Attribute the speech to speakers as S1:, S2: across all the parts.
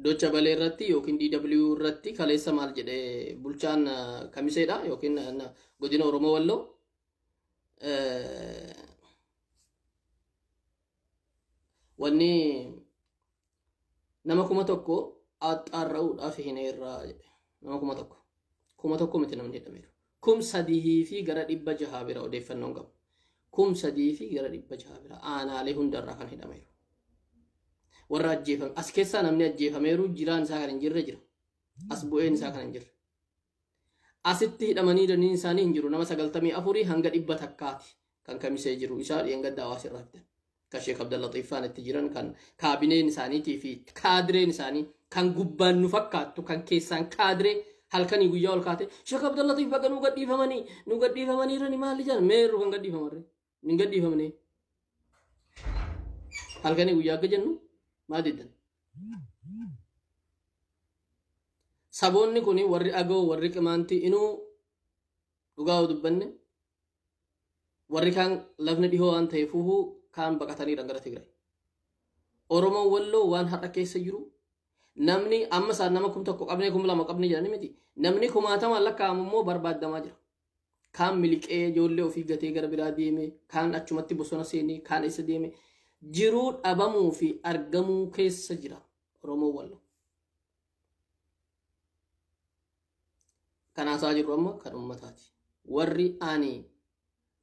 S1: Docha balee irratti yookiin DW irratti kaleessa maal jedhe bulchaan eh, kamiseedha yookiin eh, na- godina Oromoo Walloo eh, wanni Nama kuma tokko axxaarra'uudhaaf hin eerraa jedhe. Nama kuma tokko. Kuma tokko miti namni hidhameeru. Kum sadihii fi gara dhibba jahaa bira odeeffannoon qabu. Kum sadihii fi gara dhibba jahaa bira aanaalee hundarraa kan hidhameeru. Warra ajjeefame as keessaa namni ajjeefameeru jiraan isaa kan hin jirre jira. As bu'een isaa kan hin jirre. Asitti hidhamanii daniin isaanii hin jiru. Nama 94 hanga dhibba takkaati kan kamisee jiru. Isaa dheengadda hawaasa irraa fidan. Kan Sheek Abdallaxiif faan itti jiran kan kaabineen isaaniitii fi kaadireen isaanii kan gubbaan nu fakkaattu kan keessaan kaadiree halkanii guyyaa ol kaate Sheek Abdallaxiif baga nu gadhiifamanii nu gadhiifamanii irrani maali jedhan meerru kan gadhiifamarre. hin gadhiifamne halkanii guyyaa akka jennu maa diddan saboonni kun warri agoo warri qimaantii inuu dhugaa yoo dubbanne warri kaan lafni dhihoo waan ta'eef huhuu kaan baqataniidha gara Tigraay. Oromoon walloo waan har'a keessa jiru namni amma isaan nama kum tokko qabnee kum lama qabnee jedhani miti namni kumaatamaan lakkaa'amu immoo barbaadamaa jira. kaan miliqee ijoollee ofii gatee gara biraa deeme kaan achumatti bosona seenee kaan eessa deeme jiruu dhabamuu fi argamuu keessa jira oromoo wallo kan haasaa jirru amma kan ummataati warri ani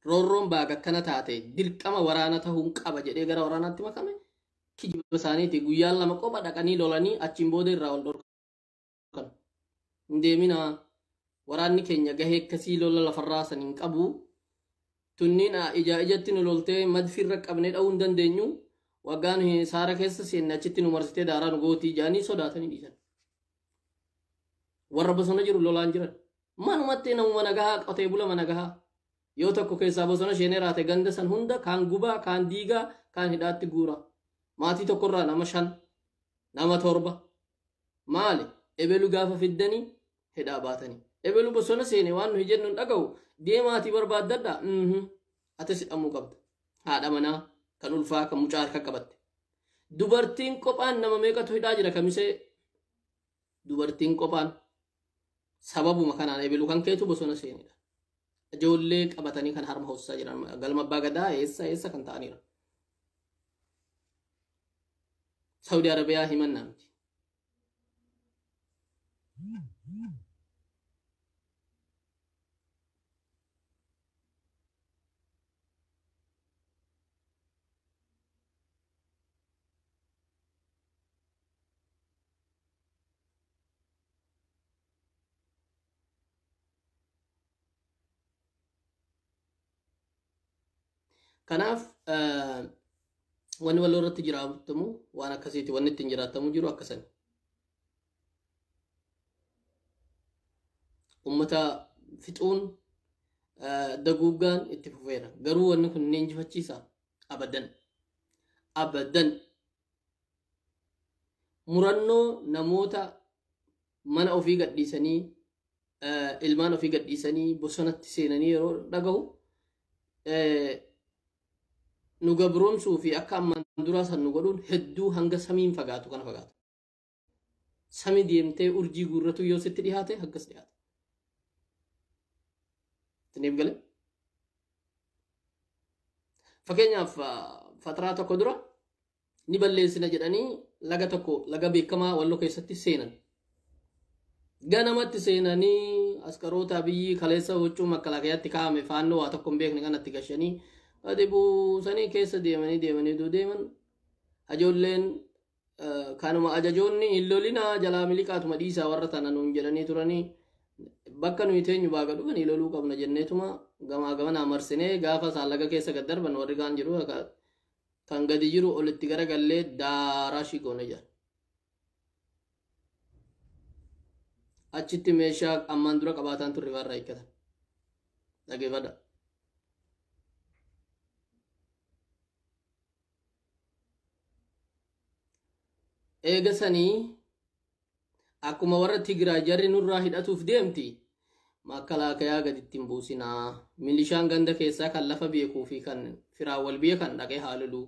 S1: roorroon baaga akkana taate dirqama waraana tahuun qaba jedhee gara waraanaatti makame kijiba isaaniiti guyyaan lama qofa dhaqanii lolanii achiin booda irraa wal dhorka kana hin deeminaa waraanni keenya gahee akkasii lola lafarraa san hin qabu tunniin a- ijaa ijatti nu loltee madfiirra qabnee dha'uu hin dandeenyu waggaa nu hin- saara keessa seenne achitti nu marsitee daaraa nu gootii jaanii sodaatanii dhiisan warra bosona jiru lolaan jiran manumatti namuma nagahaa qotee bulama nagahaa yoo tokko keessaa bosona sheenee raate ganda san hunda kaan gubaa kaan diigaa kaan hidhaatti guura maatii tokkorraa nama shan nama torba maali ebelu gaafa fiddanii hidhaa baatanii ebelu bosona seene waan nuyi jennu hin dhaga'u deemaatii barbaaddadha mhm atis hidhamuu qabda haadha manaa kan ulfaa kan mucaa harka qabatte dubartiin qophaan nama meeqatu hidhaa jira kamisee dubartiin qophaan sababuma kanaan eebelu kan keetu bosona seenedha. Ijoollee qabatanii kan harma hoosisaa jiran galma abbaa gadaa eessa eessa kan ta'aniira. Saudi Arabiyaa himannaa miti. Kanaaf wanni waloo irratti jiraatamu waan akkasiiti wanni ittiin jiraatamu jiru akkasan. Uummata fixuun daguuggaan itti fufeera. Garuu wanni kun ni injifachiisa abadan. Abadan murannoo namoota mana ofii gadhiisanii ilmaan ofii gadhiisanii bosonatti seenanii yeroo dhagahu nu gabroomsuu fi akka ammaan duraa san nu godhuun hedduu hanga samiin fagaatu kana fagaata. Sami deemtee urjii guurratuu yoo sitti dhihaate akkas dhihaata. Isiniif gale? Fakkeenyaaf fataraa tokko dura ni balleessina jedhanii laga tokko laga beekamaa walloo keessatti seenan. Ganamatti seenanii askaroota biyyi kaleessa huccuu makkalaakayaatti kaa'ame faannoo waa tokko hin beekne kanatti gashanii gadi buusanii keessa deemanii deemanii duu deeman ijoolleen kanuma ajajoonni hin lolinaa jalaa miliqaatuma dhiisaa warra tana nuun jedhanii turanii bakka nuyi teenyu baaga dhufanii loluu qabna jenneetuma gamaa gamanaa marsinee gaafa isaan laga keessa gad darban warri kaan jiru kan gadi jiru olitti gara gallee daaraa ishii goone jira. Achitti meeshaa ammaan dura qabaataan turre irraa hiikkatan. Dhageeffadha. eega sanii akkuma warra tigiraa jarri nurraa hidhatuuf deemti makkalaakayaa gaditti hin buusinaa milishaan ganda keessaa kan lafa beekuu fi kan firaa wal beekan dhaqee haa lolu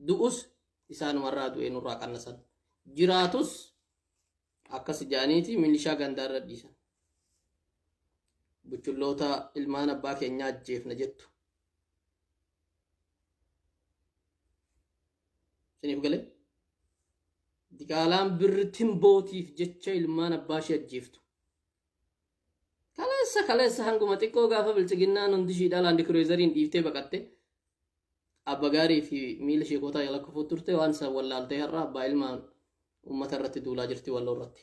S1: du'us isaanumarraa du'ee nurraa qannasan jiraatus akkas jaaniiti milishaa gandaa irra dhiisan buchulloota ilmaan abbaa keenyaa ajjeefna jettu Isiniif galee? Diqaalaan birri timbootiif jecha ilmaan abbaa ishee ajjeeftu. Kaleessa kaleessa hanguma xiqqoo gaafa bilchiginnaan hundi ishii dhalaan dikureezariin dhiiftee baqatte. Abba gaarii fi miila sheekotaa jala kufuu turte waan isaan wallaaltee har'a abbaa ilmaan uummata irratti duulaa jirti walloo irratti.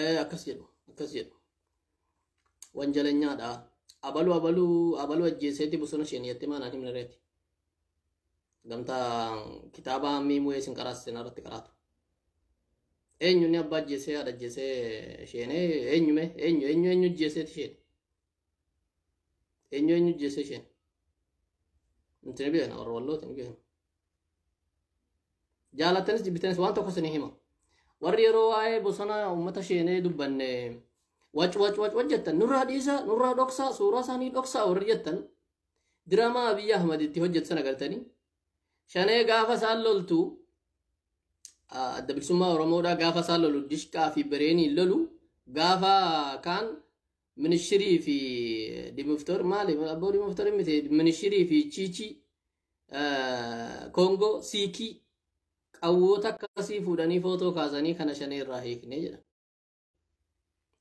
S1: Eh, akkas jedhu akkas jedhu wanjalanyaadha abalu abalu abalu ajjeeseeti bosona isheen yatte maanaan himne reeti gamtaa kitaaba hammii mu'ee isin qaraasisan irratti qaraatu eenyu inni abbaa ajjeesee haadha ajjeesee isheenee eenyume eenyu eenyu eenyu ajjeeseeti isheen Eenyu eenyu jeessa isheen? Nuti ni beekna warra wallooti ni beekna. Jaalattanis jibbitanis waan tokko isinii hima. Warri yeroo waa'ee bosona uummata sheenee dubbanne wac wac wac wac jettan nurraa dhiisa nurraa dhoksaa suuraa isaanii dhoksaa warri jettan diraamaa Abiyyi Ahmad itti hojjetu sana galtanii shanee gaafa isaan loltu adda bilisummaa Oromoodhaa gaafa isaan lolu dishqaa fi bireeniin lolu gaafa kaan Minishirii fi Dimoftor maali? Abboo Dimoftor miti minishirii fi Chiichii Koongoo Siikii qawwoota akkasii fuudhanii footoo kaasanii kana shanee irraa hiiknee jedha.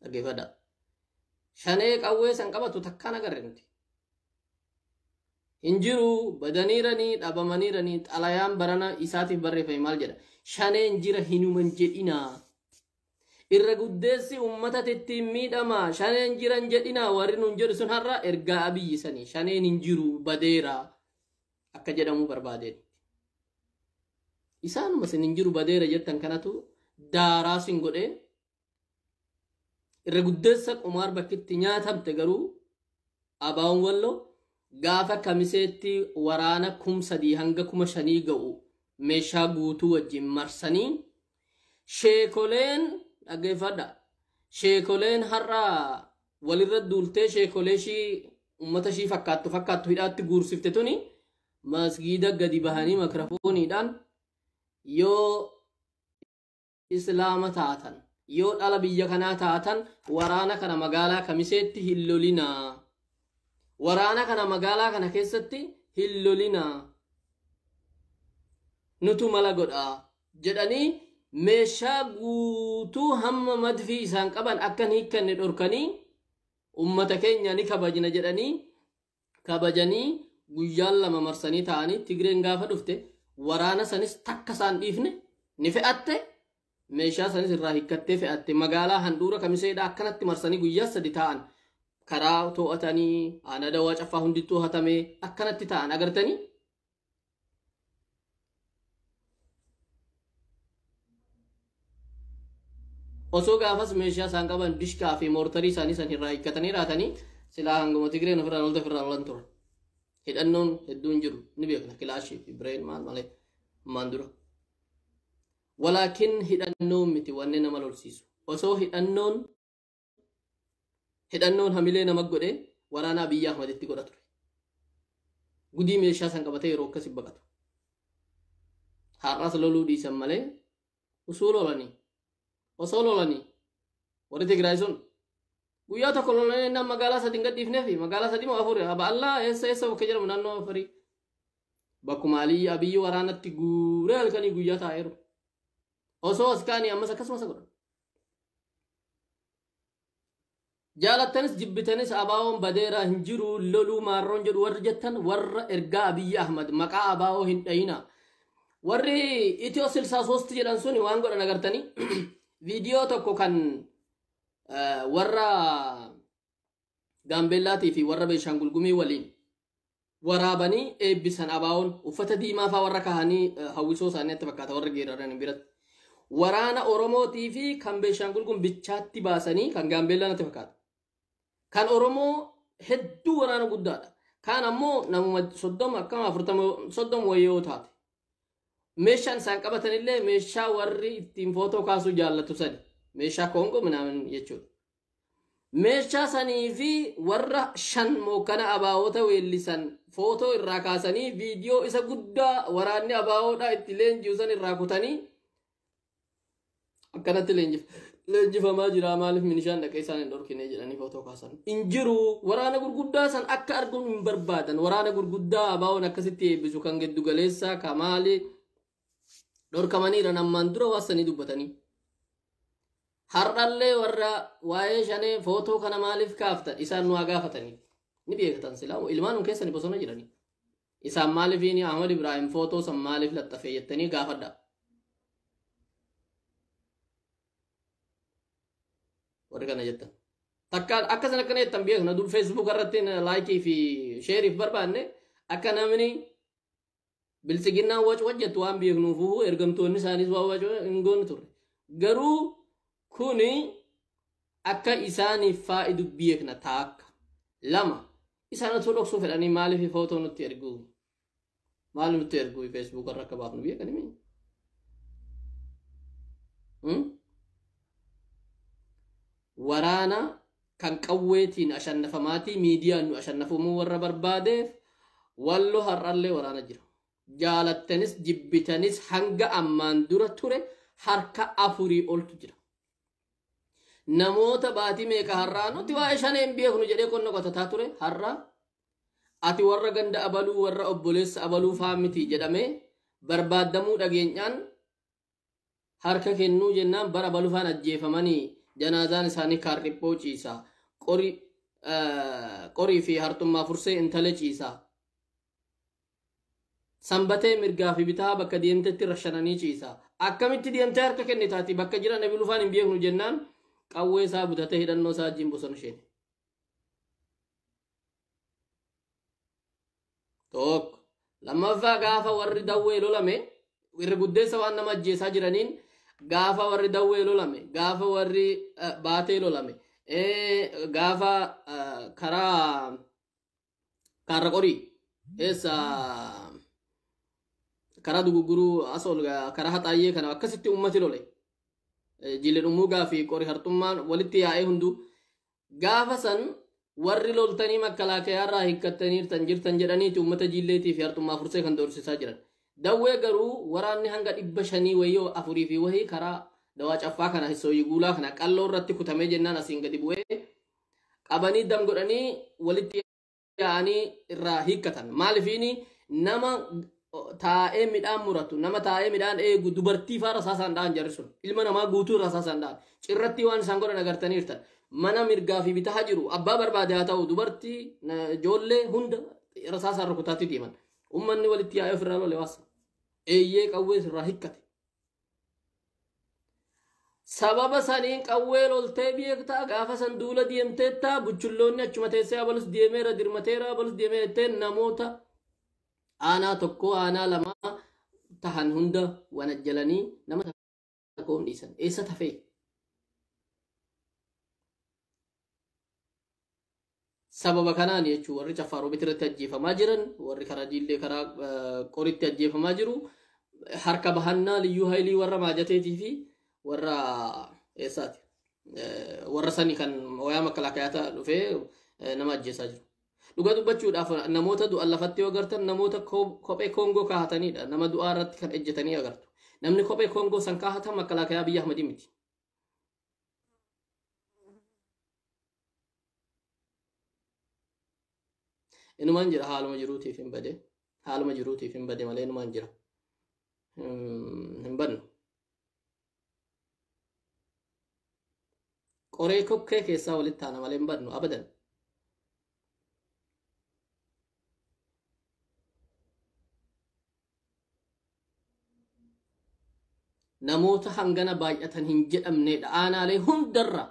S1: Dhaggeeffadha. Shanee qawwee san qabatu takkaan agarre nuti. Hin jiru badaniiranii dhabamaniiranii xalayaan barana isaatiif barreeffame maal jedha? Shaneen jira hinuman jedhinaa. Irra guddeessi ummata tittiin miidhamaa, shaneen jiran jedhinaa warri nuun jedhu sun har'a ergaa Abiyyi sani. Shaneen hin jiru, badeera akka jedhamuu barbaadeen. Isaanuma sin hin jiru badeera jettan kanatu daaraa sin godhee irra guddeessa qumaar bakkitti nyaatamte garuu abaawon wallo gaafa kamiseetti waraana kum sadii hanga kuma shanii ga'u meeshaa guutuu wajjin marsanii Sheekoleen dhaggeeffadha. Sheekoleen har'a walirra duultee sheekolee ishii uummata ishii fakkaattu fakkaattu hidhaatti guursifte tuni masgiida gadi bahanii makirafooniidhaan yoo islaama taatan yoo dhala biyya kanaa taatan waraana kana magaalaa kamiseetti hin lolinaa waraana kana magaalaa kana keessatti hin lolinaa nutu mala godhaa jedhanii meeshaa guutuu hamma madfii isaan qaban akka hin hiikkanne dhorkanii ummata keenya ni kabajna jedhanii kabajanii guyyaan lama marsanii taa'anii Tigreen gaafa dhufte waraana sanis takka isaan dhiifne ni fe'atte meeshaa sanis irraa hiikkattee fe'atte magaalaa handhuura kamiseedha akkanatti marsanii guyyaa sadi taa'an karaa to'atanii aanaa dawaa caffaa hundittuu hatamee akkanatti taa'an agartanii osoo gaafas meeshaa isaan qaban dishkaa fi moortarii isaanii san irraa hiikkatanii raatanii silaa hanguma tigreen ofirraa lolta ofirraa lolan turan. Hidhannoon hedduun jiru ni beekna kilaashii fi bireen maal malee ammaan dura. Walaakin hidhannoon miti wanni nama lolsiisu. Osoo hidhannoon hidhannoon hamilee nama godhe waraana Abiyyi Ahmaditti godha ture. Gudii meeshaa san qabatee yeroo akkasi baqatu. Har'as loluu dhiisan malee usuu lolanii osoo lolanii warri Tigraay sun guyyaa tokko lolanii innaan magaalaa sadin gadhiifnee fi magaalaa sadii moo afur aba allaa eessa eessa bakka jedhamu naannoo afurii bakkuma aliyyi abiyyi waraanatti guuree halkanii guyyaa taa'eeru osoo as kaanii ammas akkasumas godhan Jaalattanis jibbitanis ABOn badeera hin jiru hin loluu maarroon jedhu warri jettan warra ergaa Abiyyi Ahmad maqaa ABO hin dhayina. Warri Itiyoo 63 jedhan suni waan godhan agartanii viidiyoo tokko kan eh, warra Gaambeellaatii fi warra Beenshaangul Gumii waliin waraabanii eebbisan abaawoon uffata diimaa faa warra kahanii eh, hawwisoo isaanii natti fakkaata warra geeraranii biratti. Waraana Oromootii fi kan Beenshaangul Gumii bichaatti baasanii kan Gaambeellaa natti fakkaata. Kan Oromoo hedduu waraana guddaadha. Kaan ammoo namuma soddoma akkama afurtama soddoma wayii yoo taate. Meeshaan isaan qabatan illee meeshaa warri ittiin footoo kaasuu jaallatu sani. Meeshaa koongoo minaamin jechuudha. Meeshaa sanii fi warra shan mookkana ABOta weellisan footoo irraa kaasanii viidiyoo isa guddaa waraanni ABOdhaa itti leenji'u san irraa kutanii akkanatti leenjif leenjifamaa jira maaliif minishaan dhaqee isaan hin dhorkine jedhanii footoo kaasan hin jiru waraana gurguddaa san akka arguun hin barbaadan waraana gurguddaa ABOn akkasitti eebbisu kan giddu galeessaa kamaali dhorkamaniiran ammaan dura waan sanii dubbatanii har'allee warra waa'ee shanee footoo kana maaliif kaafta isaan nu haa gaafatanii ni beekatan silaa ilmaanum keessani bosona jiranii isaan maaliif ni ahmad ibraahim footoo san maaliif laxxafee jettanii gaafadha warri kana jettan takka akka san akkana jettan beekna dur feesbuuk irratti laayikii fi sheeriif barbaanne akka namni Biltsiginnaan wac wac jettu waan beeknuufuu ergamtoonni isaaniis waan wac wac hin goone turre. Garuu kuni akka isaaniif faayidu beekna taakka. Lama isaan otoo dhoksuu fedhanii maaliif footoo nutti ergu? Maal nutti ergu Facebook irra akka baafnu beekani mii? Hmm? Waraana kan qawweetiin ashannafamaatii miidiyaan nu ashannafumuu warra barbaadeef wallo har'allee waraana jira. Jaalattanis jibbitanis hanga ammaan dura ture harka afurii oltu jira. Namoota baatii meeqa har'aa nuti waa'ee shanee hin beeknu jedhee qonna qotataa ture har'aa ati warra ganda abaluu warra obboleessa abaluu faa miti jedhamee barbaaddamuu dhageenyaan Harka kennuu jennaan bara balufaan ajjeefamanii janaazaan isaanii kaarriphoo ciisa. Qori qorii fi harxummaa fursee intale ciisa. Sanbatee mirgaa fi bitaa bakka deemtetti rashananii ciisa. Akkamitti deemtee harka kennitaati bakka jira nabi lufaan hin beeknu jennaan qawwee isaa butatee hidhannoo isaa wajjin bosona sheene. tokko lammaffaa gaafa warri dawwee lolame irra guddeessa waan nama ajjeesaa jiraniin gaafa warri dawwee lolame gaafa warri eh, baatee lolame eh, gaafa eh, karaa kaarra qorii eessa karaa duguguruu asool eh, karaa haxaayyee kana akkasitti ummati lole Eh, jilli dhumuugaa fi qori hartummaan walitti yaa'ee hunduu Gaafa san warri loltanii makkalaakayaarraa hikkattaniirtan jirtan jedhaniiti uummata jiilleetii fi harxummaa fursee kan doorsisaa jiran. Dawwee garuu waraanni hanga dhibba shanii wayii afurii fi wahii karaa dawaa caffaa kana hissooyii guulaa kana qalloo irratti kutamee jennaan asiin gadi bu'ee qabanii dam godhanii walitti yaa'anii irraa hiikkatan maalifiini nama taa'ee midhaan muratu nama taa'ee midhaan eegu dubartii faara saasaan dha'an jarri sun ilma namaa guutuu irraa saasaan dha'an cirratti waan isaan godhan agartaniirtan mana mirgaa fi bitaa jiru abbaa barbaade haa ta'u dubartii na- ijoollee hunda irra saasaan rukutaatti deeman ummanni walitti yaa'ee ofirraa lole waasa eeyyee qawwees irraa hikkate Sababa saniin qawwee loltee beektaa gaafa san duula deemteettaa buchulloonni achuma teessee abalus deemeera dirmateera abalus deemeera jettee namoota aanaa tokko aanaa lamaa tahan hunda wanajjalanii nama tokko hin dhiisan eessa tafee Sababa kanaan jechuun warri Caffaa Roobiit irratti ajjeefamaa jiran, warri karaa Jiillee karaa Qoritti ajjeefamaa jiru, harka bahannaa liyyuu haylii warra maajateetii fi warra eessaati? Warra sani kan wayaa makalaakaa dhufee nama ajjeesaa jiru. Dhuga dubbachuudhaaf namoota du'an lafatti yoo agartan namoota kophee koongoo kaahatanidha. Nama du'aa irratti kan ejjetanii agartu. Namni kophee koongoo san kaahatan makalaakaa biyya Ahmadii miti. inumaan jira haaluma jiruutiif hin bade haaluma jiruutiif hin bade malee inumaan jira hin bannu qoree kokkee keessaa walitti taana malee hin bannu abadan namoota hangana baay'atan hin jedhamneedha aanaalee hundarra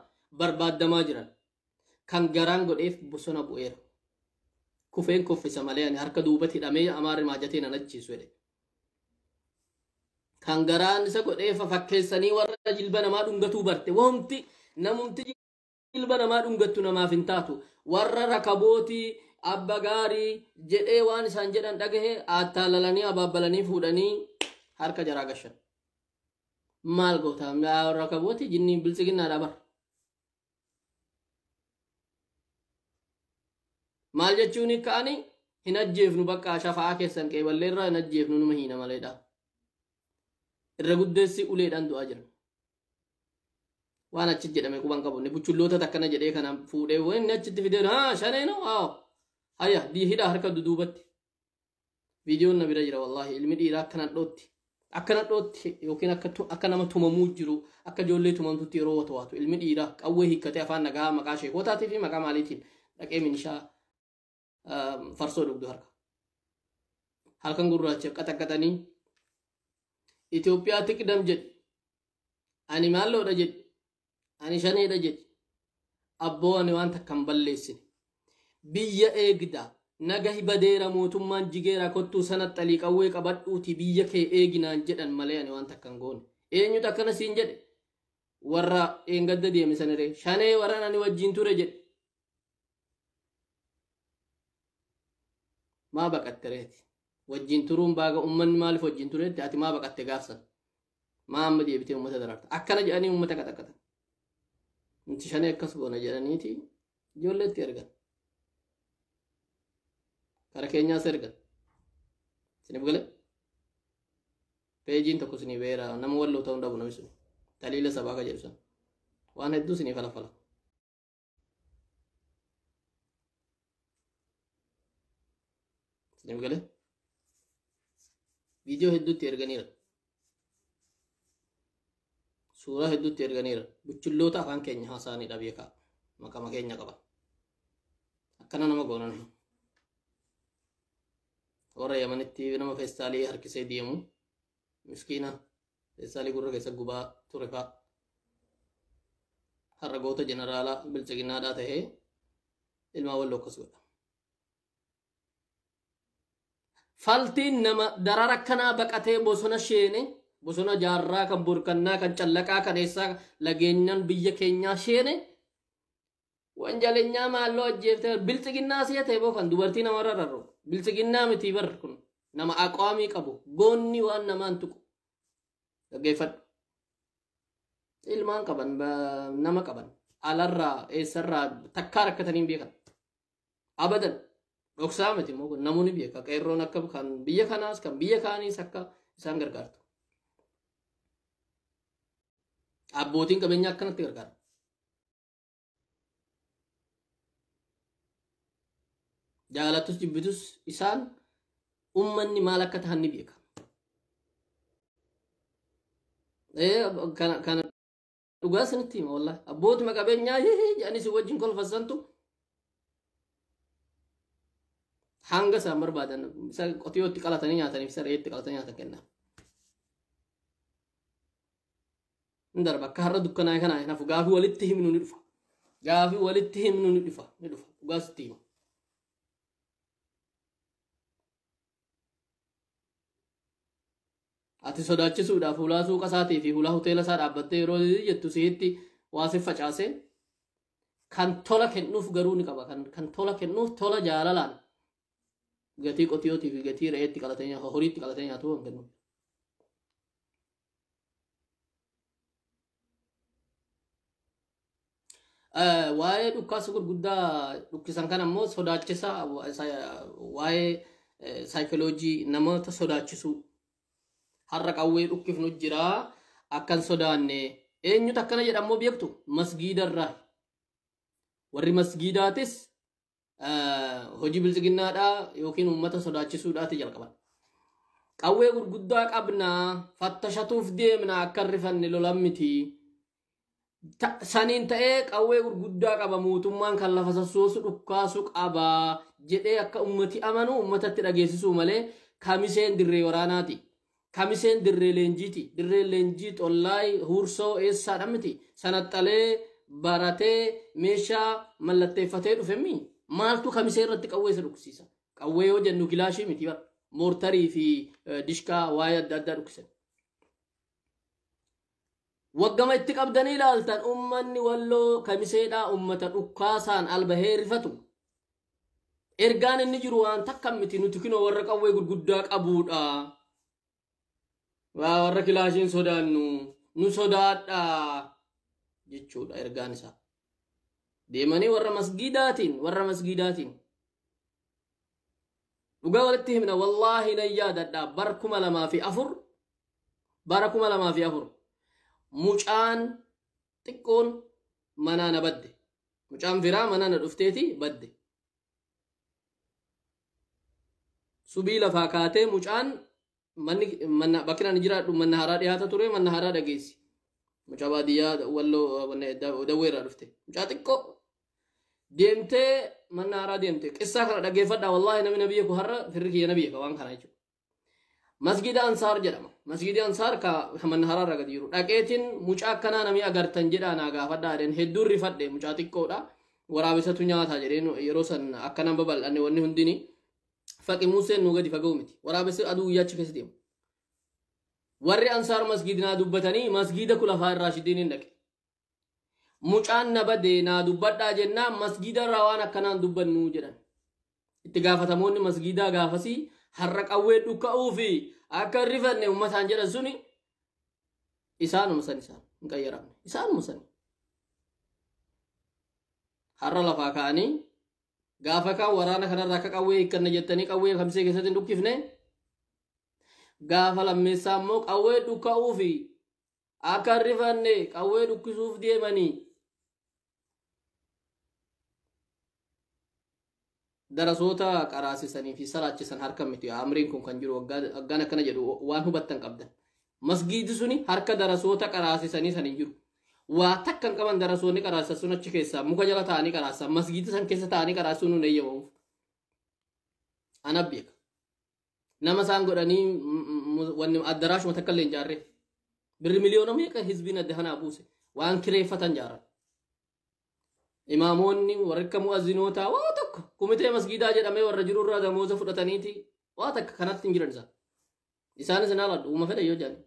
S1: barbaaddamaa jiran kan garaan godheef bosona bu'eera kufeen kuffisa malee ani harka duubatti hidhamee amaarri maajatee nan ajjeesu jedhe kan garaan isa godheef fakkeessanii warra jilba namaa dhungatuu barte wamti namumti ilma namaa dhungattu namaaf hin taatu warra rakabootii abba gaarii jedhee waan isaan jedhan dhagahe attaalalanii abaabbalanii fuudhanii harka jaraa gashan maal goota rakabootii jinnii biltsiginnaadha bar maal jechuun ka'anii hin ajjeefnu bakka shafa'aa keessan qeeballee irraa hin ajjeefnu numa hiina maleedha irra guddeessi uleedhaan du'aa jiran waan achi jedhame quban qabu inni buchulloota takkana jedhee kana fuudhee waan inni achitti fidee haa shanee noo haa hayya dii hidhaa harka duduubatti viidiyoon na bira jira wallaahi ilmi dhiiraa akkana dhootti akkana dhootti yookiin akka tu- akka nama tumamuu jiru akka ijoollee tumamtutti yeroo wata waatu ilmi dhiiraa qawwee hiikkatee afaan nagaa maqaa sheekotaatii fi maqaa maaliitiin dhaqee minishaa farsoo dhugdu harka. Halkan gurraacha qaxaqaxanii Itoophiyaa tiqdam jedhu ani maalloodha jedhu ani shaneedha jedhu abboo ani waan takka hin balleessine biyya eegda naga hibadeera mootummaan jigeera kottuu sana xalii qawwee qabadhuuti biyya kee eeginaan jedhan malee ani waan takka hin goone eenyutu akkana siin jedhe warra dheengadda deeme saniree shanee warran ani wajjin ture jedhe maa baqatte reeti wajjin turuun baaga ummanni maaliif wajjin tureetti ati maa baqatte gaafsan maa amma deebitee uummata daraarta akkana jedhanii uummata qaxaqata nuti shanee akkas goona jedhaniiti ijoolleetti ergan kara keenyaas ergan sinif gale peejiin tokko sinii beera nama walloo ta'uu dhabu namni sun taliila sabaa ka jedhu sun waan hedduu sinii falafala Nama galee? Viidiyoo hedduutti erganiira. Suuraa hedduutti erganiira. Buchulloota afaan keenya haasaanii dhabee ka'a. Maqama keenya qaba. Akkana nama goonan. Warra Yamanitti nama feestaalii harkisee deemu. miskiina eessaanii gurra keessa gubaa ture fa'a har'a goota jeneraalaa bilxiginnaadhaa ta'ee ilmaa wal lokkas godha. Faltiin nama darara kanaa baqatee bosona sheene bosona jaarraa kan burkannaa kan callaqaa kan eessaa lageenyaan biyya keenyaa sheene Wanjalenyaa maalloo ajjeeftee bar bilxiginnaa si'a ta'e boo kan dubartii namarra rarra'u bilxiginnaa mitii bar kun nama aqwaamii qabu goonni waan namaan tuqu dhaggeeffadhu. Ilmaan qaban ba- nama qaban alarraa eessarraa takkaa rakkatanii hin beekan. Abadan dhoksaa miti immoo kun namoonni beeka qeerroon akka kan biyya kanaas kan biyya kaaniis akka isaan gargaartu. Abbootiin qabeenyaa akkanatti gargaaru. jaalatus jibbitus isaan ummanni maal akka tahan ni beeka. Kana dhugaa sanitti hima wallah abbootuma qabeenyaa jedhanii si wajjin kolfassantu hanga isaan barbaadan isa qotiyootti qalatanii nyaataniif isa reetti qalatanii nyaatan kenna. hin darba akka har'a dukkanaa'e kana hin hafu gaafii walitti himnu ni dhufa gaafii walitti himnu ni dhufa ni dhufa dhugaa sitti hima ati sodaachisuudhaaf hulaa suuqa isaatii fi hulaa hoteela isaa dhaabbattee yeroo jettu sihitti waa si facaasee kan tola kennuuf garuu ni qaba kan kan tola kennuuf tola jaalalaan gatii qotiyootii fi gatii re'eetti qalatee nyaatu horiitti qalatee nyaatu kan kennu Eh, waa'ee dhukkaasa gurguddaa dhukkisan kana immoo sodaachisa wa- sa- waa'ee eh, saayikoloojii namoota sodaachisuu har'a qawwee dhukkifnu jira akkan sodaanne eenyutu akkana jedhammoo beektu masgiidarraa warri masgiidaatis hojii bilxiginnaadhaa yookiin uummata sodaachisuudhaati jalqaban. Qawwee gurguddaa qabnaa fattashatuuf deemna akka rifanne lolan miti. Saniin ta'ee qawwee gurguddaa qaba mootummaan kan lafa sassoosu dhukkaasu qaba jedhee akka uummati amanu uummatatti dhageessisuu malee kamiseen dirree waraanaati. Kamiseen dirree leenjiiti. Dirreen leenjii xollaay, huursoo, eessaadha miti. Sanaxxalee, baratee, meeshaa mallatteeffatee dhufe mii? Maaltu kamisee irratti qawwee isa dhukkisiisa? Qawwee yoo jennu kilaashii miti bara. Moortarii fi eh, dishkaa waa'ee adda addaa dhukkisan. Waggama itti qabdanii ilaaltan ummanni walloo kamiseedhaa ummata dhukkaasaan albahee rifatu. Ergaan inni jiru waan takka miti nuti kinoo warra qawwee gurguddaa qabuudha. Waa warra kilaashiin sodaannu nu sodaadha jechuudha ergaan isaa. Deemanii warra masgiidaatiin warra masgiidaatiin. Dhugaa walitti himna wallaahi nan yaadadha bara kuma lamaa fi afur bara kuma lamaa fi afur mucaan xiqqoon manaa na badde mucaan biraa mana na dhufteeti badde subii lafaa kaatee mucaan manni manna bakki ani jiraadhu manna haaraa dhiyaata ture manna haaraa dhageessi mucaa baadiyyaa walloo manna dawwee irraa dhufte mucaa xiqqoo deemtee manna haaraa deemte qissaa kana dhageeffadha wallaahi namni nabiyya ku har'a firri kiyya nabiyya ka waan kana jechuudha Masgiida Ansaar jedhama. Masgiidi Ansaar ka ka Mannaharaa irra gadi jiru. Dhaqeetiin mucaa akkanaa namii agartan jedhaa naa gaafadhaa jedheen hedduun rifadhe mucaa xiqqoodha. Waraabessatu nyaataa jedheen yeroo san akkanaan babal'anne wanni hundini. Faqi Museen nuu gadi fagoo miti. Waraabessi aduu guyyaa achi keessa deemu. Warri Ansaar masgiidinaa dubbatanii masgiida kulafaa irraa shidiin hin dhaqe. Mucaan na bade naa dubbadhaa jennaan masgiida irraa waan akkanaa hin dubbannu jedhan. Itti gaafatamoonni masgiidaa gaafasii har'a qawwee dhukka'uu fi akka hin rifanne uummataan jedhan suni isaanuma san isaan hin qayyaramne. Isaanuma sani. Har'a lafaa ka'anii gaafa kaan waraana kanarraa akka qawwee hiikkanna jettanii qawwee kamsee keessatti hin dhukkifne gaafa lammeessaa immoo qawwee dhukka'uu fi Akka hin rifanne qawwee dhukkisuuf deemanii. Darasoota qaraasisanii fi salaachisan harka miti. Amriin kun kan jiru waggaan akkana jedhu waan hubattan qabdan. Masgiidi suni harka darasoota qaraasisanii san hin jiru. Waa takka hin qaban darasoonni qaraasan sun achi keessaa muka jala taa'anii qaraasan masgiidi san keessa taa'anii qaraasuun hin eeyyamamuuf. Ana beeka. nama isaan godhanii wanni addaraashuma takka illee hin jaarree birri miliyoona meeqa hizbiin adda kanaa buuse waan kireeffatan jaaran imaamoonni warri akka mu'azzinootaa waa tokko kumitee masgiidaa jedhamee warra jirurraa damooza fudhataniiti waa takka kanatti hin jiran isaan isaanis hin haaladhu uuma fedha yoo jedhan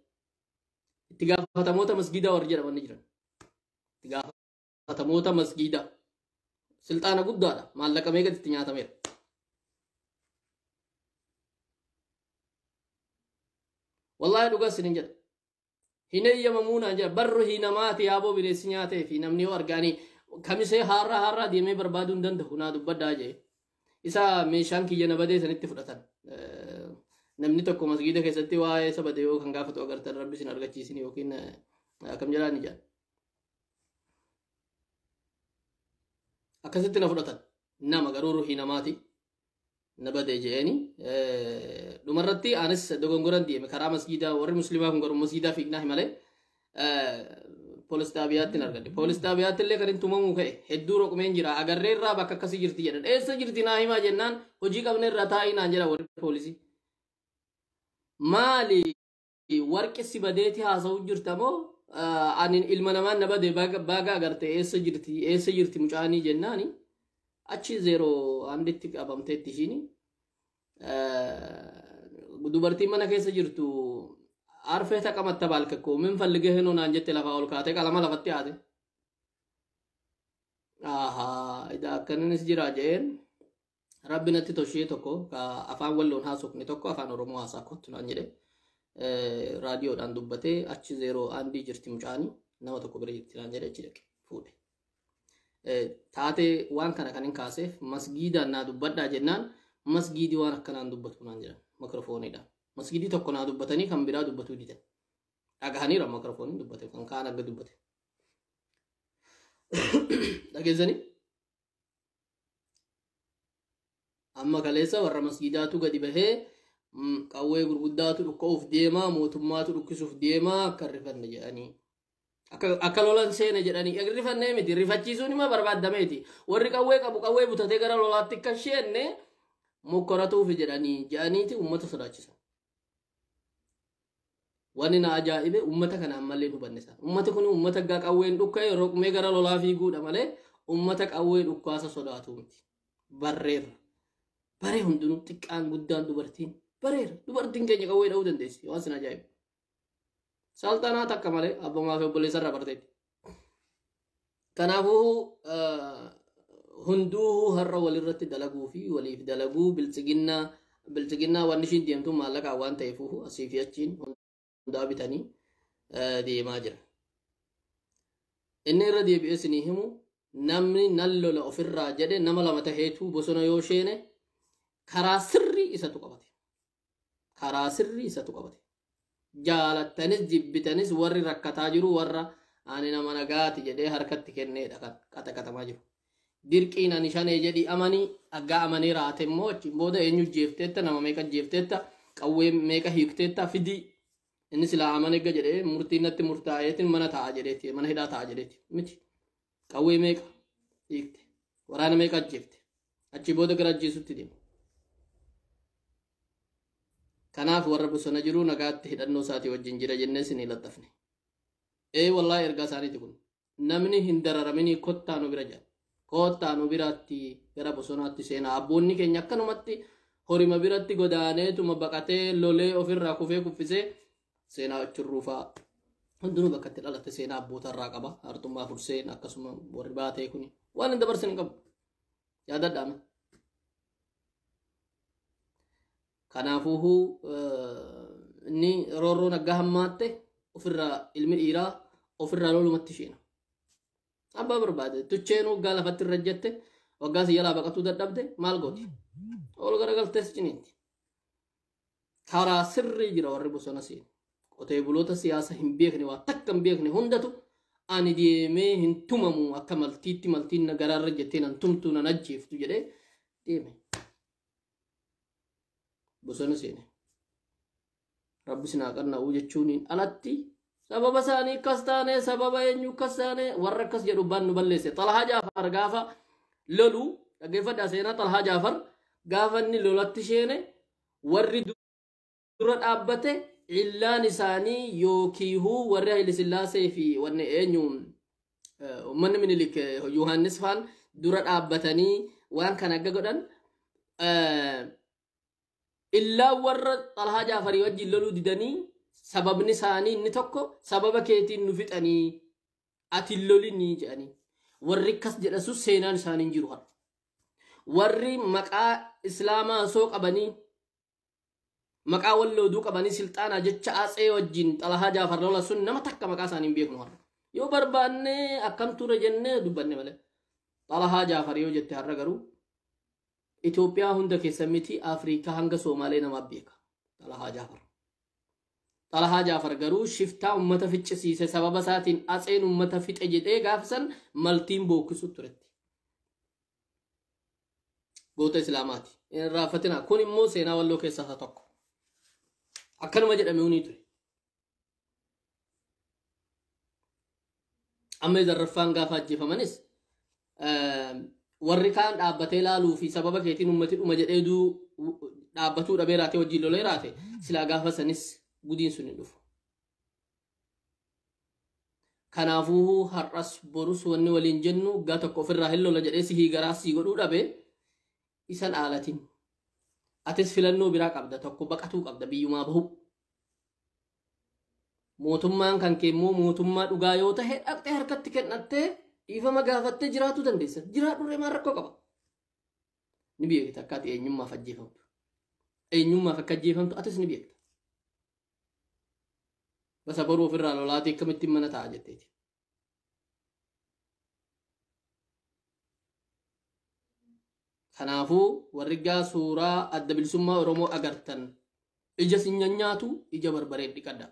S1: itti gaafatamoota masgiidaa warri jedhaman ni jiran itti gaafatamoota gaafatamoota masgiida silxaana guddaadha maallaqa meeqa itti nyaatameera wallahi dhugaa isinin jedha hin eeyyamamuu naan jedha barru hinamaati yaaboo bineensi nyaatee fi namni yoo argaanii kamisee haarraa haarraa deemee barbaaduu hin danda'u naa dubbadhaa jee isa meeshaan kiyya na badee sanitti fudhatan Eh, namni tokko masgiida keessatti waa'ee isa badee yoo kan gaafatu agartan rabbi isin argachiisin yookiin eh, akkam jedhaan ijaan akkasitti na fudhatan nama garuu ruhii namaati na badee je'eeni dhumarratti anis dogongoran deeme karaa masjiidaa warri muslimaa kun garuu masjiidaa fiignaa himalee poolis xaabiyaatti hin argadhe poolis xaabiyaatti illee kan hin tumamuu ka'e hedduu roqmeen jira agarree irraa bakka akkasii jirti jedhan eessa jirti naa himaa jennaan hojii qabne irraa taa'ii naan jedha warri poolisii maali warqi si badeeti haasa'u jirta moo ani ilma namaan na bade baagaa agarte eessa jirti eessa jirti mucaanii jennaani achi zeeroo handitti qabamteetti ishiini dubartiin mana keessa jirtu arfee taqamatta baalke koo min fallige hinoo naan jette lafaa ol kaate qalama lafatti haate ahaa idaa akkananis jira jeen Rabbi natti toshee tokko ka afaan walloon haasofne tokko afaan Oromoo haasaa kottu naan jedhe. Eh, Raadiyoodhaan dubbatee achi zeeroo aandii jirti mucaani nama tokko bira jirti naan jedhe achi dhaqe fuudhe. Eh, Taatee waan kana kan hin kaaseef masgiidaan naa dubbadhaa jennaan masgiidii waan akkanaan dubbatu naan jedhan mikrofooniidhaan. Masgiidii tokko naa dubbatanii kan biraa dubbatuu didan. Dhagahaniira mikrofooniin dubbate kan kaan akka dubbate. Dhageessanii? amma kaleessa warra masgiidaatu gadi bahee mm, qawwee gurguddaatu dhukka'uuf deemaa mootummaatu dhukkisuuf deemaa akka hin rifanne jedhanii akka akka lolan seene jedhanii hin rifanne miti rifachiisuun ima barbaadameeti warri qawwee qabu qawwee butatee gara lolaatti akka hin seenne mokkoratuuf jedhanii jedhaniiti uummata sodaachisan. Wanni na ajaa'ibe ummata kana ammallee hin hubanne sana. Ummati kun ummata gaa qawween dhukka'e roqmee gara lolaa fiiguudha malee ummata qawwee dhukkaasa sodaatu miti. Barreerra. Baree hundinuu xiqqaan guddaan dubartiin bareera. Dubartiin keenya qawwee dha'uu dandeessi. Waan sin ajaa'ibu. Salxanaa takka malee abbaa maafi obboleessa irraa barteetti. Kanaafuu hunduu har'a walirratti dalaguu fi waliif dalaguu biltsiginnaa biltsiginnaa waan ishiin deemtu maallaqaa waan ta'eef asii fi achiin hundaa bitanii deemaa jira. Inni irra deebi'ee isinii himu namni nan lola ofirraa jedhe nama lama taheetu bosona yoo sheene karaa sirrii isatu qabate. karaa sirrii isatu qabate jaalattanis jibbitanis warri rakkataa jiru warra ani nama nagaati jedhee harkatti kenneedha kan qaxaqatamaa jiru dirqiin ani shanee jedhi amani aggaa amanee raate immoo achiin booda eenyu jeefteetta nama meeqa jeefteetta qawwee meeqa hiikteetta fidii inni silaa amanegga jedhee murtiin natti murtaa'eetiin mana taa'a jedheeti mana hidhaa taa'a jedheeti miti qawwee meeqa hiikte waraana meeqa ajjeefte achi booda gara ajjeesutti deema kanaaf warra bosona jiru nagaatti hidhannoo isaatii wajjin jira jennee isinii laxxafne ee wallaa ergaa isaaniiti kun namni hin dararaminii kottaa nu bira jira kottaa nu biraatti gara bosonaatti seenaa abboonni keenya akkanumatti horima biratti godaaneetuma baqatee lolee ofirraa kufee kuffisee seenaa achirruu fa'a hundinuu bakka itti dhalatte seenaa abboota irraa qaba hartummaa furseen akkasuma warri baatee kun waan hin dabarsin hin qabu yaadadhaame kanaafuuhuu inni roorroon aggaa hammaatte ofirraa ilmi dhiiraa ofirraa lolumatti isheena abbaa barbaade tucheen waggaa lafatti irra jette waggaa si jalaa baqatuu dadhabde maal gooti ol garagaltees ciniitti karaa sirrii jira warri bosona seenu. Qotee buloota siyaasa hin beekne waa takka hin beekne hundatu ani deemee hin tumamu akka maltiitti maltiin na garaarra jettee nan tumtu nan ajjeeftu jedhee deeme. Bosona seene. Rabbi sinaa qanna'uu jechuuniin alatti Sababa isaanii akkas taane, sababa eenyu akkas taane, warra akkas jedhu baan nu balleesse. Xalhaa Jaafar gaafa lolu, dhaggeeffadhaa seenaa Xalhaa Jaafar gaafa inni lolatti sheene, warri dura dhaabbate illaan isaanii yookiihuu warri Hayile Sillaasee fi wanni eenyu eh, uummanni Minilik eh, Yohaannis faan dura dhaabbatanii waan kana akka godhan eh, Illaan warra Xalhaa Jaafarii wajjin loluu didanii sababni isaanii inni tokko sababa keetiin nu fixanii ati hin lolinii jedhanii. Warri akkas jedhasus seenaan isaanii hin jiru har'a. Warri maqaa Islaamaa osoo qabanii maqaa wallooduu qabanii silxaanaa jecha Atsee wajjin Xalhaa Jaafar lola sun nama takka maqaa isaanii hin beeknu har'a. Yoo barbaannee akkam ture jennee dubbanne malee. Xalhaa Jaafar yoo jette har'a garuu Itoophiyaa hunda keessa miti Afriikaa hanga Soomaalee namaaf beeka. Xalahaa Jaafar. Xalahaa Jaafar garuu shiftaa ummata ficcisiise sababa isaatiin atseen ummata fixe jedhee gaafa san maltiin bookkisu turetti. Goota Islaamaati. Hin raaffatinaa. Kun immoo seenaa walloo keessaa isa tokko. Akkanuma jedhame hunii ture. amma zarraffaan gaafa ajjeefamanis warri kaan dhaabbatee laaluu fi sababa keetiin ummati dhuma jedhee duu dhaabbatuu dhabee raatee wajjin lolee raate silaa gaafa sanis gudiin sun hin dhufu. Kanaafuu har'as borus wanni waliin jennu gaa tokko ofirraa hin lola jedhee sihii garaa sii godhuu dhabe isa dhaalatin atis filannoo biraa qabda tokko baqatuu qabda biyyumaa bahu mootummaan kan kee immoo mootummaa dhugaa yoo tahe dhaqxee harkatti kennattee dhiifama gaafattee jiraatu dandeessa jiraadhurree maan rakkoo qaba ni beekta akkaati eenyummaaf ajjeefamtu eenyummaaf akka ajjeefamtu atis ni beekta basa baruu ofirraa lolaatii akkamittiin mana ta'a jetteeti Kanaafuu warri gaa suuraa adda bilisummaa Oromoo agartan ija sin nyaatu ija barbaree dhiqadha.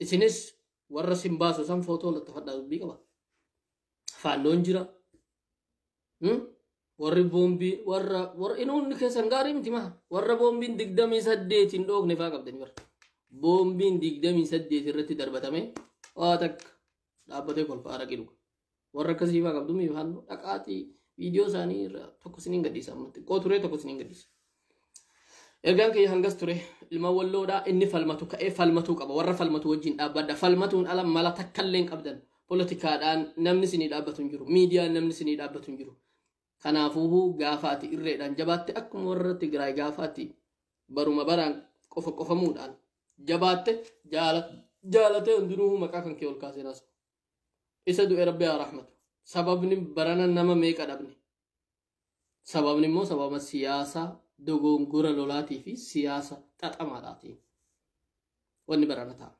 S1: Isinis warra sin baasu san footoo lattafadhaa dubbii qaba. Faannoon jira. Hmm? Warri boombii warra warra inuun keessan gaarii miti maa warra boombiin digdamii saddeetiin dhoofne faa qabdani bara. Boombiin digdamii saddeet irratti darbatame waa takka dhaabbatee kolfaa araqii dhuga. Warra akkasii faa qabdu mii halluu dhaqaatii viidiyoo isaanii irraa tokko isiniin gadhiisa ammatti. Xiqqoo turee tokko isiniin gadhiisa. Ergaan kiyya hangas ture ilma walloodhaa inni falmatu ka'ee falmatuu qaba warra falmatu wajjin dhaabbadha falmatuun ala mala takkallee hin qabdan poolitikaadhaan namni sinii dhaabbatu hin jiru miidiyaan namni sinii dhaabbatu hin jiru kanaafuu gaafaati irreedhaan jabaatte akkuma warra Tigraay gaafaati baruma baraan qofa qofamuudhaan jabaatte jaala jaalatee hundinuu maqaa kan kee ol kaaseenaas isa du'e rabbi haa rahmatu sababni barana nama meeqa dhabne Sababni immoo sababa siyaasa dogoongora lolaatii fi siyaasa xaxamaadhaatiin wanni barana ta'a.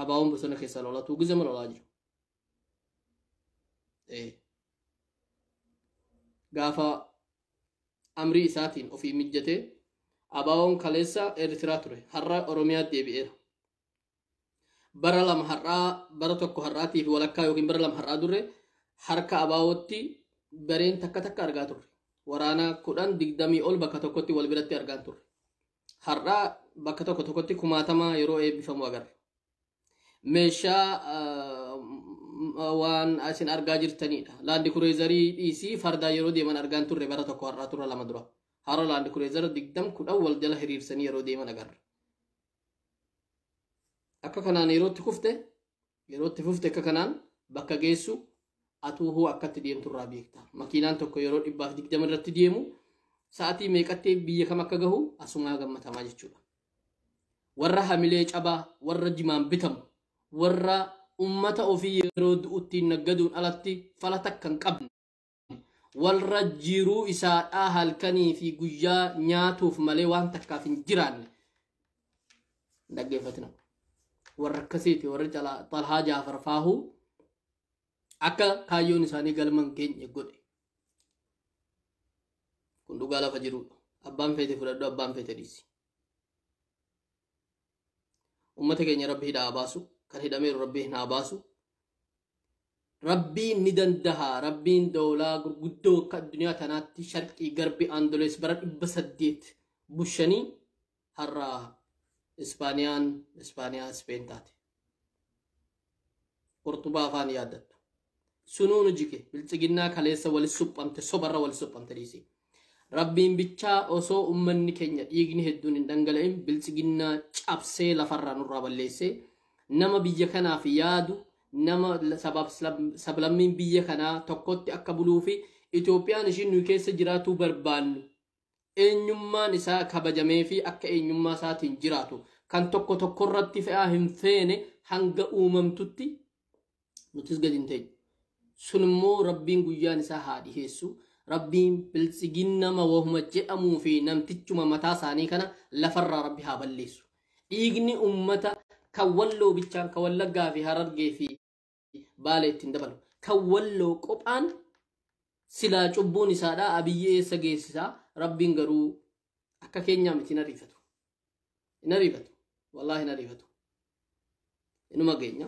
S1: Abaawoon bosona keessa lolatuu gizama lolaa jiru. Eh. Gaafa amrii isaatiin ofii mijjatee abaawoon kaleessa Eertiraa ture har'a Oromiyaa deebi'eera. bara lama har'aa bara tokko har'aatii fi walakkaa yookiin bara lama har'aa durre harka abaawootti gareen takka takka argaa turre. Waraana kudhan digdamii ol bakka tokkotti wal biratti argaan turre. Har'aa bakka tokko tokkotti kumaatama yeroo eebbifamu agarra. Meeshaa ah, m- ah, waan isin argaa jirtanidha. Laandi kureezarii dhiisii fardaa yeroo deeman argaan turre bara tokko har'aa turre lama dura. Har'a laandi kureezara digdam kudhan wal jala hiriirsanii yeroo deeman agarra. akka kanaan yerootti kufte yerootti fufte akka kanaan bakka geessu atuu hoo akkatti deemtu irraa beekta makiinaan tokko yeroo dhibbaaf digdama irratti deemu sa'atii meeqatti biyya kam akka gahu asumaa gammatamaa jechuudha warra hamilee cabaa warra jimaan bitamu warra ummata ofii yeroo du'uttiin naggaduun alatti fala takka hin qabne walra jiruu isaadhaa halkanii fi guyyaa nyaatuuf malee waan takkaaf hin jiraanne hin dhaggeeffatina warra akkasiiti warra calaa xalhaa jaafar faahuu akka kaayyoon isaanii galma hin geenye godhe kun dhugaa lafa jirudha abbaan feete fudhadhu abbaan feete dhiisi ummata keenya rabbi hidhaa baasu kan hidhameeru rabbi hin haa baasu rabbiin ni dandaha rabbiin doolaa gurguddoo akka addunyaa tanaatti sharqii garbi andolees bara dhibba saddeet bushanii har'a ispaaniyaan ispaaniyaa ispeen taate Qurxubaa afaan yaaddattu. Sunuu nu jige bilxiginnaa kaleessa wali suphamte sobarra wali suphamte dhiisii. Rabbiin bichaa osoo ummanni keenya dhiigni hedduun hin dhangala'in bilxiginnaa cabsee lafarraa nurraa balleessee nama biyya kanaaf yaadu nama sabaaf sablammiin biyya kanaa tokkotti akka buluu fi Itoophiyaan ishiin nuyi keessa jiraatuu barbaannu eenyummaan isaa kabajameefii akka eenyummaa isaatiin jiraatu kan tokko tokkorratti fe'aa hin feene hanga uumamtutti nutis gadi hin teenyu. Sun immoo rabbiin guyyaan isaa haa dhiheessu. Rabbiin biltsiginnama wahuma jedhamuu fi namtichuma mataa isaanii kana lafarraa rabbi haa balleessu. Dhiigni uummata kan walloo bichaan kan wallaggaa fi harargee fi Baale itti hin dabalu. Kan walloo qophaan silaa cubbuun isaadhaa abiyyi eessa geessisaa rabbiin garuu akka keenyaa miti hin ariifatu. Hin ariifatu. Wallaahi hin ariifatu. Inuma geenya.